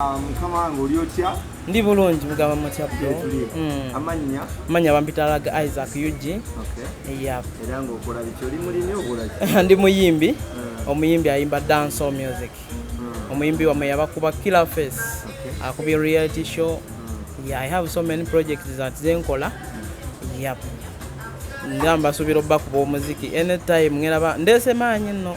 Ah, mukama wange oli otya ndi bulungi mugamba mutya bro hmm. amannya amannya bampitalaga isaac ug era ngaokola biki oli mulimi okolaki ndi muyimbi hmm. omuyimbi ayimba dance or music hmm. omuyimbi wamwe yabakuba killer face akubi reality show yeah, i have so many projects that zenkola yep nga mbasuubira obakuba omuziki anytime ngeraba ndeese maanyi nno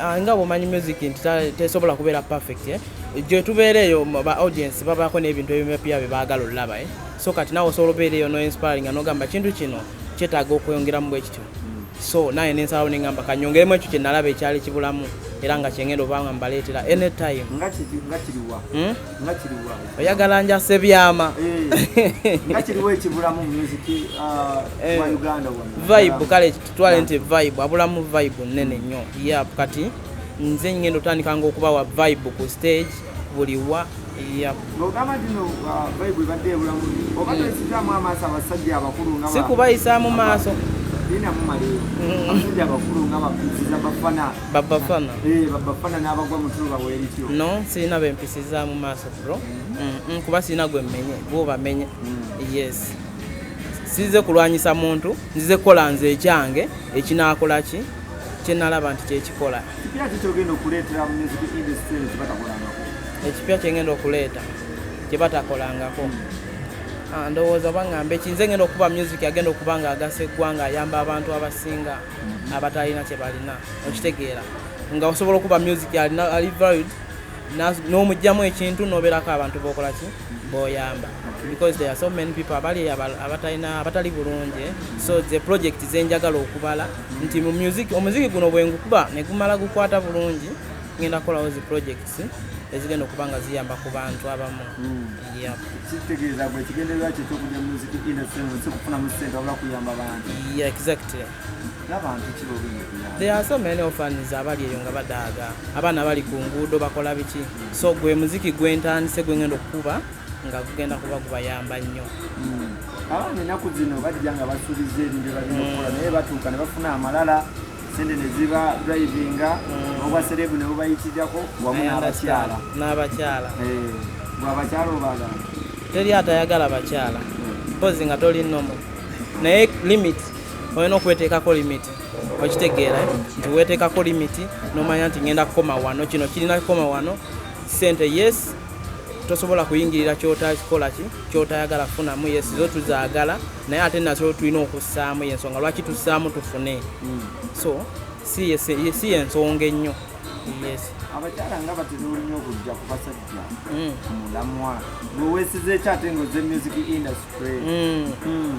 Ah, nga bwomanyi music nti tesobola kubeera perfect eh? gyetubeera eyo ba audience babaako n'ebintu ebimepya bye baagala olulaba eh? so kati nawe osobola obeera eyo noinspiringa nogamba kintu kino kyetaaga okweyongeramu bwe kityo so naye nensalawo nengamba kanyongeremu ekyo kyenalaba ekyali kibulamu era nga kyengenda obanga mbaleetera anytime hmm? oyagala njasa ebyama eh, ah, eh. vibe kale twale nti vibe abulamu vibe nene nnyo yap kati nze ngenda otandikanga okubawa vibe ku stage buli wa sikubayisaamu uh, maaso babafana no sirina bempisizaamu maaso bro kuba sirina gwe mmenye bwobamenye yes size kulwanyisa muntu nzize kukola nze ekyange ekinaakola ki kyenalaba nti kyekikola ekipya kyengenda okuleeta kyebatakolangako ah, ndowooza bangamba ekinze ngenda okuba music agenda okuba nga agasa eggwanga ayamba abantu abasinga mm-hmm. abatalina kyebalina okitegeera nga osobola okuba music ali varid n'omugyamu ekintu nobeerako abantu bokolaki boyamba because there are so many people abali abatalina abatali bulungi so the project zenjagala okubala nti mu music omuziki guno bwengukuba negumala gukwata bulungi ngenda kukolawo zi projects ezigenda okuba nga ziyamba ku bantu abamu hmm. kitegeeza gwe ekigendererwa kyo kyokuja muziki industry nsi okufunamu sente wabula kuyamba bantu exactly There are so many orphans abali eyo nga badaaga abaana bali ku nguudo bakola biki so gwe muziki gwentandise gwe ngenda okukuba nga gugenda kuba gubayamba nnyo hmm. abaana ennaku zino bajja nga basuubiza ebintu balina okukola naye batuuka ne bafuna amalala sente ne ziba drivinga hmm. obwa serebu ne bubayitirirako wamu n'abakyala n'abakyala eh, bwe abakyala obagala teri atayagala bakyala hmm. mpozi nga toli nomo naye limiti olina okweteekako limiti okitegeera eh? nti weeteekako limiti nomanya nti ngenda kukoma wano kino kirina kukoma wano sente yes tosobola kuyingirira kyotakola ki kyotayagala kufunamu yes zo tuzaagala naye ate nazo tulina okussaamu yensonga lwaki tussaamu tufune hmm. so si yensonga ennyo yes abakyala nga batera olunya okujja ku basajja hmm. mulamwa nowesiza ekyate nga oze music industry hmm.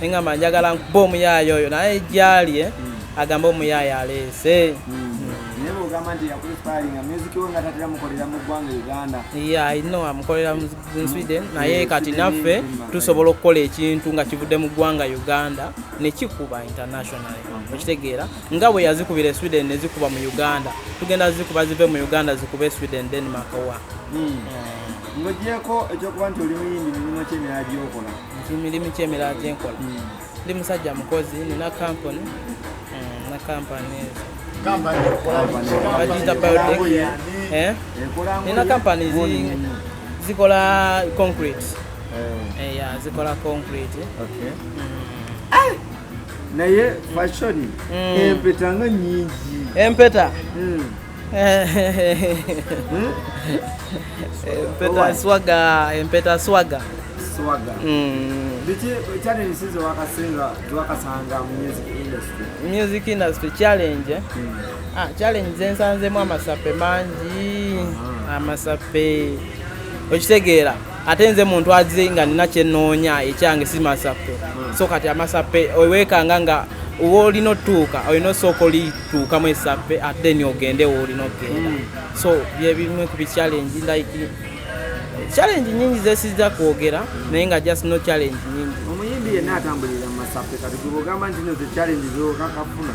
engamba njagala nkuba omuyaaye oyo naye gyali eh, hmm. agamba omuyaaye aleese hmm. ino amukolera mu sweden hmm. naye kati naffe tusobola okukola ekintu nga kivudde mu ggwanga uganda nekikuba international okitegeera nga bwe yazikubira e sweden nezikuba mu uganda tugenda zikuba zive mu uganda zikuba e sweden denmark wa ngogyeko ekyokuba nti oli muyimbi mirimu kyemirala gyokola nti mirimu ki emirala gye nkola hmm. ndi musajja mukozi nina kampuni hmm, na kampani bagiyita biotech eh? nina kampani zikola concrete eh. Eh, zikola concrete hmm. naye fashoni empeta nga nyingi empeta hmm? empeta swaga empeta swaga swaga mm. music industry challenge eh? mm. ah, challenge zensanzemu amasape mangi ah. amasape okitegeera ate nze muntu azi nga nina kyenoonya ekyange si masape hmm. so kati amasape owekanga nga woolina otuuka olina osooka olituukamu esape ate ni ogende woolina okugenda hmm. so byebimu ku bichallenji like challenge nyingi zesiza kwogera naye nga just no challenge nyingi omuyimbi yenna atambulira mu masape kati gubogamba nti no ze challenge zokakafuna